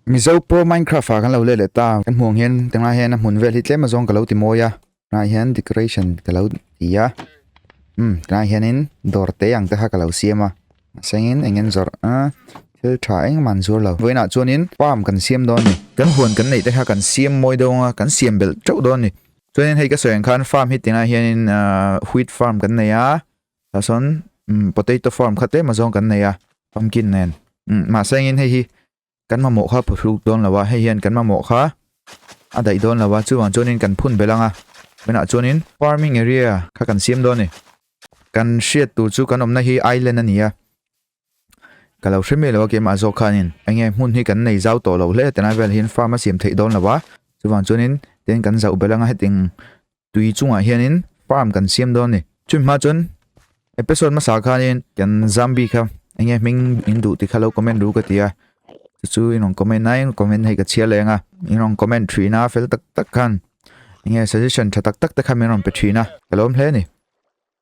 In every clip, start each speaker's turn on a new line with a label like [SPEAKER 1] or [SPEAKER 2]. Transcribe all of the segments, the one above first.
[SPEAKER 1] Mizo pawh Minecraft ah kan lo let leh ta kan hmuh ang hian tunah hian a hmun vel hi tlem azawng ka lo ti mawi a tunah hian decoration ka lo ti a um tunah hianin dawr te ang te kha ka lo siam a mahsengin eng nge zawrh a thil tha engmah an zuar lo vawiinah chuanin palm kan siam dawn a ni kan huan kan neih te kha kan siam mawi dawng a kan siam belh teuh dawn a ni chuanin hei ka sawi ang khan farm hi tinah hianin ahh wheat farm kan nei a. Tah sawn potato farm khat tlem azawng kan nei a, pumpkin nen. Mahse engin hei hi kan mamawh kha phu hluk dawn lo a, hei hian kan mamawh kha a daih dawn lo a, chuvang chuanin kan phun belh ang a. Tunah chuanin farming area kha kan siam dawn a ni. Kan hriat tur chu kan awmna hi island a ni a, Ka lo hre melo a kem ah zawk khanin enge hmun hi kan nei zau tawh lo hle heti lai vel hian farm a siam theih dawn lo a, chuvang chuanin tin kan zauh belh anga hetiang tui chungah hianin farm kan siam dawn a ni. Chumi hma chuan episode hmasa khanin kan zambi kha enge hming in duh tikha lo comment ru ka ti a, chu chu in rawn comment a, eng comment hei ka chhiar leh ang a, in rawn comment thin a fel tak tak khan enge suggestion tha tak tak te khan min rawn pe thin a, ka lawm hle a ni.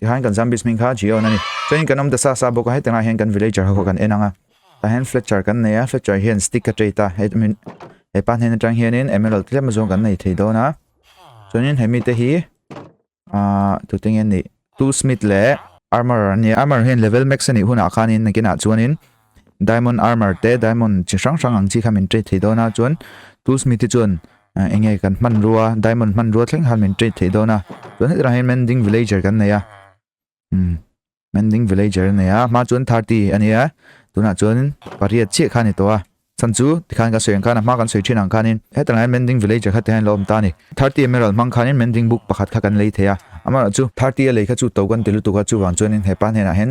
[SPEAKER 1] Tihain kan zombies hming kha G-Own a ni. Chuanin kan awm ta sa sa bawk a, hetiang ah hian kan villager ho kha kan en ang a. Tah hian Fletcher kan nei a, Fletcher hian stick a trait a, he pa hnen atang hianin emerald tlem a zawng kan nei thei dawn a. Chuanin he mite hi ah tute nge ni tool smith leh armourer a ni a, armourer hian level max a nih hunah khanin nakinah chuanin, Diamond armor te diamond chi hrang hrang ang chi kha min trade theih dawn a chuan tool smith te chuan eng nge kan hman rua diamond hman rua thleng han min trade theih dawn a chuan hetah hian mending villager kan nei a um mending villager nei a ma chuan tharti a nia tunah chuan pariat chiah kha ni to a chan chu tikhan ka sawi ang khan a hma kan sawi thin ang khanin hetah hian mending villager kha te hian lo awm ta ni tharti emerald hmang khanin mending book pakhat kha kan lei thei a amah chu tharti a lei kha chu to kan ti lutuk a chuvang chuan hepa hnenah hian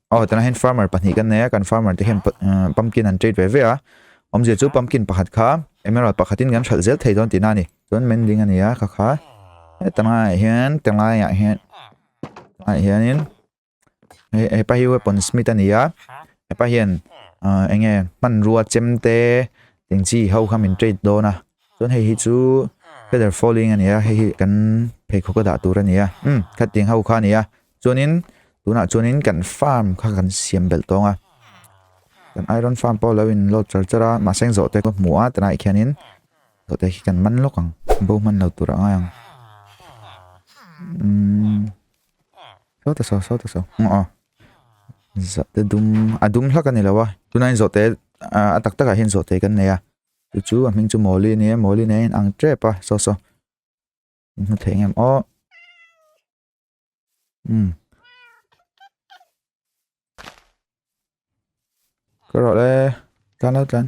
[SPEAKER 1] A aw tana hian farmer pahnih kan nei a kan farmer te hian umm pumpkin an treat ve ve a awm zia chu pumpkin pakhat kha emerald pakhat in kan hralh zel thei dawn tih na a ni chuan mending a ni a kha kha heta hma ah hian te ngai ah hian ah hian in he hepa hi weapon smith a ni a hepa hian ah eng nge hmanrua chem te eng chi ho kha min treat dawn a chuan hei hi chu feather falling a ni a hei hi kan pheikhawk a dah tur a ni a umm khatting ho kha a ni a. chuanin tunah chuanin kan farm kha kan siam belh tawng a kan iron farm pawh lo in load char char a mahse zawh te ka hmu a tunah khianin zawh te hi kan man lawk ang bo hman lo tur angai ang umm saw ta saw saw ta saw hnga aw zawh te dum a dum hlak a ni lo a tunain zawh te a tak takah hian zawh te kan nei a chu chu a hming chu mawli a ni a mawli nen a in ang tep a saw saw in hmu thei ang em aw Ka rawh le. Tlan lo tlan.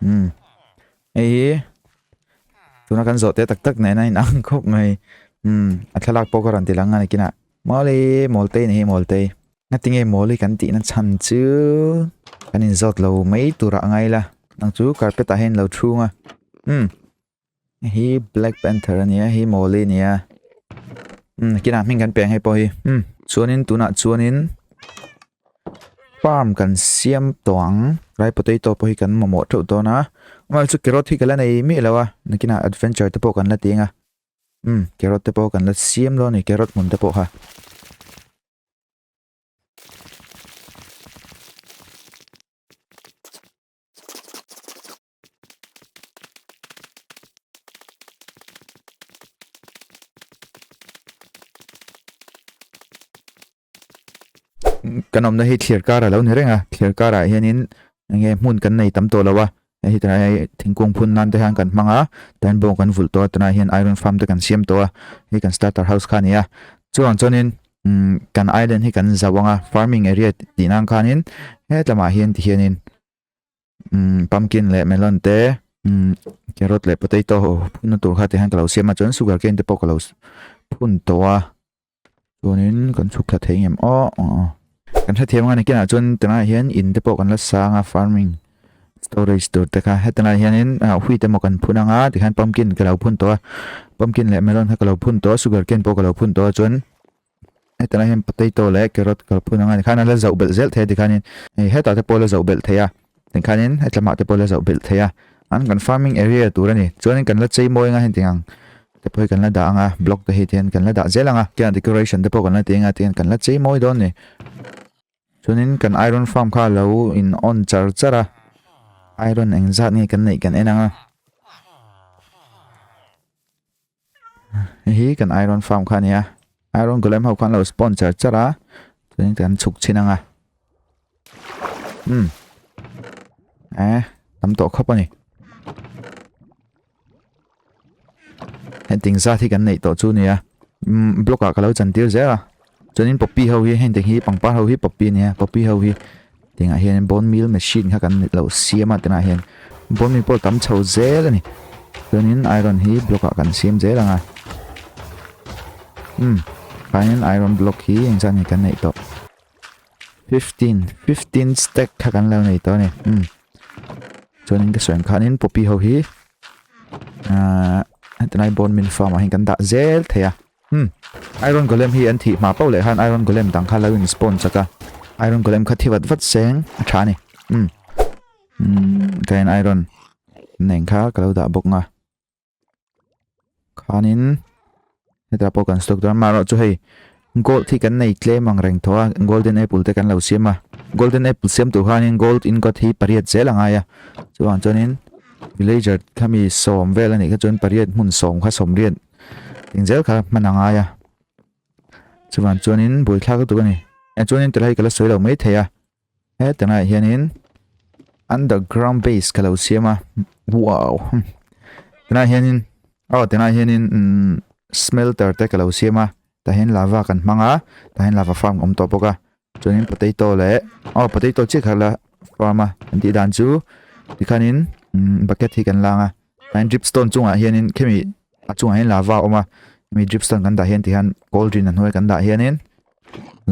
[SPEAKER 1] Hmm. Hei hi. Tuna kan zawh te tak tak nena in ang khop mai. Hmm. A thlalak pawh ka ran ti langa nikina. Mawli, mawltei ni hi mawltei. Nga tinge mawli kan tihna chan chu. Kan in zawt lo mai tura ngai la. Nang chu carpet a hen lo thu nga. Hmm. Hi Black Panther a nia, hi Molly a nia. Hmm, kina hming kan peng hei pawh hi. Hmm, chuanin tuna chuanin farm kan siam toang. Rai potato pawh hi kan momo theuh dawn a. Ngal chu carrot hi kala nei mi lo a. Nakina adventure te pawh kan la tinga. Hmm, carrot te pawh kan la siam lo ni carrot hmun te pawh ha. kan awmna hi thlir kar a lo ni reng a thlir karah hianin enge hmun kan nei tam tawh lo a hei tana hei thingkung phun nan te hian kan hmang a tin bawng kan vulh tawh a tunah hian iron farm te kan siam tawh a hei kan starter house kha a ni a chuvang chuanin umm kan island hi kan zah vang a farming area tihna ang khanin he tlamah hian tihianin. umm pumpkin leh melon te umm carrot leh potato phunna tur kha tihian ka lo siam a chuan sugar cane te pawh ka lo phun tawh a chuanin kan chhuk thla thei ngam aw aw aw kan hrethiam ang a ni kinah chuan tunah hian in te pawh kan la sa ang a farming storage tur te kha heta laiah hianin ah wheat emaw kan phun ang a tikhan pumpkin ka lo phun tawh a pumpkin leh melon kha ka lo phun tawh a sugar cane pawh ka lo phun tawh a chuan-- Hetah hian potato leh carrot kal phun ang a, tikhan an la zauh belh zel thei a, tikhanin hei hetah te pawh a la zauh belh thei a, tikhanin heta mah te pawh a la zauh belh thei a, an kan farming area tur a ni, chuanin kan la chei mawi ang a heng ting ang, te pawh hi kan la dah ang a, block te hi te hian kan la dah zel ang a, kiahnah decoration te pawh kan la ti ang a, tihian kan la chei mawi dawn a ni. Chuanin kan iron farm kha a lo in on char char a, iron engzat nge kan neih kan en ang a. hi kan iron farm kha nia iron golem ho khan lo spawn char char a chuan kan chhuk chin anga um e tam tawh khawp ani heng ting zat hi kan nei tawh chu nia um block ah ka lo chan tir zel a chuanin poppy ho hi heng te hi pangpar ho hi poppy a nia poppy ho hi tingah hian bone meal machine kha kan lo siam a tingah hian bone meal pawh tam chho zel a ni chuanin iron hi block ah kan siam zel ang a um panin iron block hi eng zan ni kan neih tawh 15 15 stack kha kan lo nei tawh ni um chuanin ka sawi ang khanin poppy ho hi uh, tingah bone meal farm ah hian kan dah zel thei a Hmm. Iron Golem hi an thih hma pau leh han Iron Golem dang kha lo in spawn chak a. Iron Golem kha thi vat vat seng a tha a ni. Hmm. Hmm. Ka in Iron neng kha ka lo dah bawk nga. Khanin heta pawh kan stock dar maro chu hei gold hi kan nei tle mang reng tho a golden apple te kan lo siam a golden apple siam tu khanin gold in got hi pariat zel anga ya chuan chuanin villager thami som vel ani kha chuan pariat hmun som kha som riat in zel kha hman a ngai a chuvan chuanin bul thlak lutuk a ni a chuanin tilai ka la sawi lo mai thei a heta ngai hianin underground base ka lo siam a wow tilai hianin aw tilai hianin smelter te ka lo siam a tahin lava kan hmang a tahin lava farm awm tawh bawk a chuanin potato leh aw potato chiah khat la farm a kan tih dan chu tikhanin umm bucket hi kan langa tlaiin drip stone chungah hianin khemi a chungah hian lava a awm a hemi drip stone kan dah hian tikhan cold drink a hnuai kan dah hianin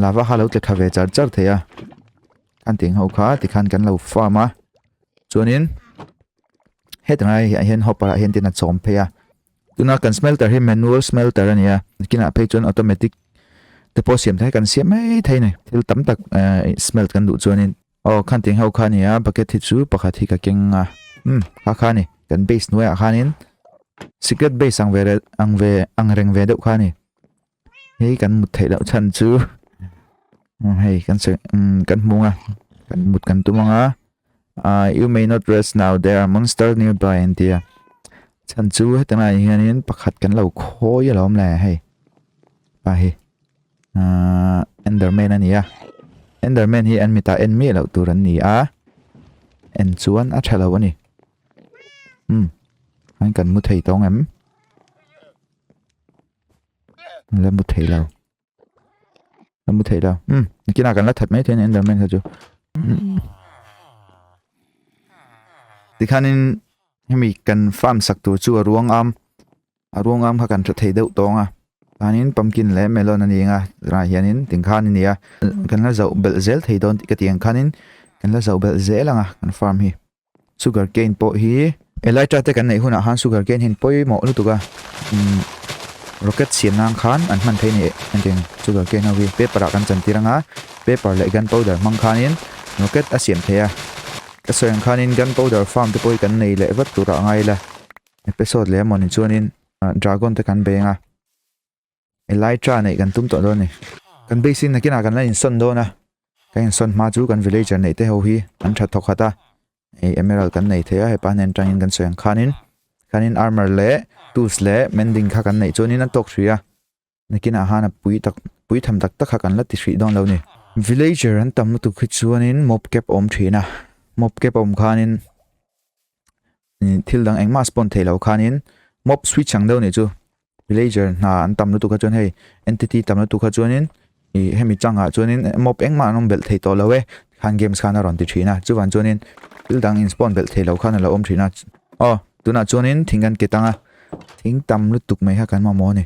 [SPEAKER 1] lava kha lo tle tha ve char char thei a an tih ang ho kha tikhan kan lo farm a chuanin heta hnai ah hian hopper ah hian tin a chawm phei a. Tuna kan smelter hi manual smelter a ni a, kinah phei chuan automatic te pawh siam ta hi kan siam mai thei nei, thil tam tak smelt kan duh chuanin. Aw, kha an tih ang ho kha a ni a, bucket hi chu pakhat hi ka keng ang a, umm, kha kha a ni, kan base hnuaiah khanin secret base ang ve reng ve deuh kha a ni. Hei kan mut thei loh chhan chu hei kan se kan hmung a kan mut kan tum anga uh, you may not rest now there are monster nearby and dear chan chu hetana hianin pakhat kan lo khawi alom le hei pa hi uh, enderman ania enderman hi an mita en mi lo tur an ni a en chuan a thalo ani hmm an kan mu thei tawng em la mu thei lo la mu thei lo hm kina kan la that mai thei enderman kha chu tikhanin hemi kan farm sak tur chu a ruang am a ruang am kha kan hre thei deuh tawng a anin pumpkin leh melon ani nga tunah hianin ting kha ani nia kan la zauh belh zel thei dawn tih ka ti ang khanin kan la zauh belh zel ang a kan farm hi Sugar cane pawh hi Elytra te kan neih hunah khan sugar cane hian pawimawh lutuk a rocket siam nan khan an hman phei nih engtin sugar cane ho hi paper ah kan chan tir anga paper leh gun powder hmang khanin rocket a siam thei a ka sawi ang khanin gun powder farm te pawh hi kan nei leh vat turah a ngai ila episode leh a mawni chuanin dragon te kan bei anga. Elijah neih kan tum tawh dawn ni. Kan base in nakinah kan la insawn dawn a. Kan insawn hma chu kan villager neih te ho hi an tha thawk khat a. Hei emerald kan nei thei a hepa hnen tangin kan sawi ang khanin khanin armor leh tools leh mending kha kan neih chuanin an tawk hrih a. Nakinah han a pui tak pui tham tak tak kha kan la ti hrih dawn lo ni. Villager an tam lutuk hi chuanin mobcap awm thin a. Mobcap awm khanin thil dang engmah spawn theih loh khanin mob switch ang deuh nih chu villager hna an tam lutuk a chuan hei entity tam lutuk a chuanin i hemi changa chuanin mob engmah an awm belh thei tawh lo e khan games khan a rawn ti thin a chuvan chuanin thil dang in spawn belh thei lo khan a lo awm thin a aw tunah chuanin thing kan ket ang a thing tam lutuk mai kha kan mamawh a ni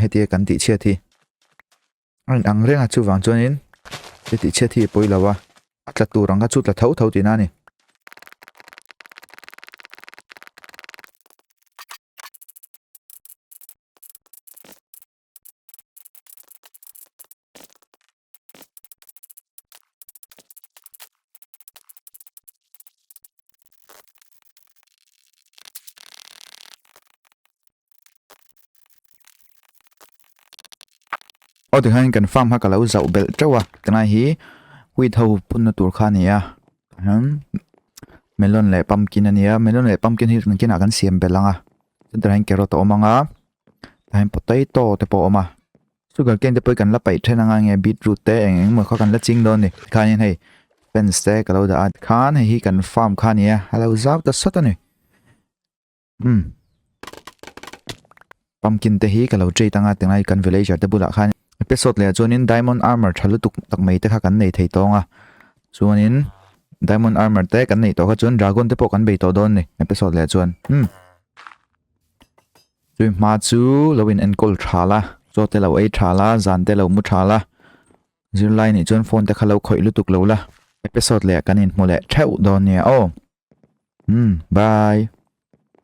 [SPEAKER 1] hetia kan tih chhiat hi a rawn ang reng a chuvang chuanin he tih chhiat hi pawi lo a a tla tur ang kha chu tla tho tho tihna ni Aw tikhan kan farm kha ka lo zauh belh teuh a ka nai hi wheat ho phun na tur kha a ni a ahem melon leh pumpkin a ni a melon leh pumpkin hi kan khenah kan siam belh ang a chuan tah hian carrot a awm ang a tah hian potato te pawh a awm a sugar cane te pawh hi kan la paih then ang a eng nge beetroot te eng eng maw kha kan la ching dawn a ni tikhan hian hei fence te ka lo dah a tikhan hei hi kan farm kha a ni a a lo zau ta sat a ni. Hmm. Pumpkin te hi ka lo trade anga tengai kan villager te bulah khan episode leh chuan in diamond armor tha lutuk tak mai te kha kan nei thei tawng a chuan in diamond armor te kan nei to kha chuan dragon te pawh kan bei to don ni episode leh chuan hmm tui ma chu lo in encall tha la cho te lo ei tha la zan te lo mu tha la zirlai ni chuan phone te kha lo khoi lutuk lo la episode leh kan in hmu leh theu don nia oh hmm bye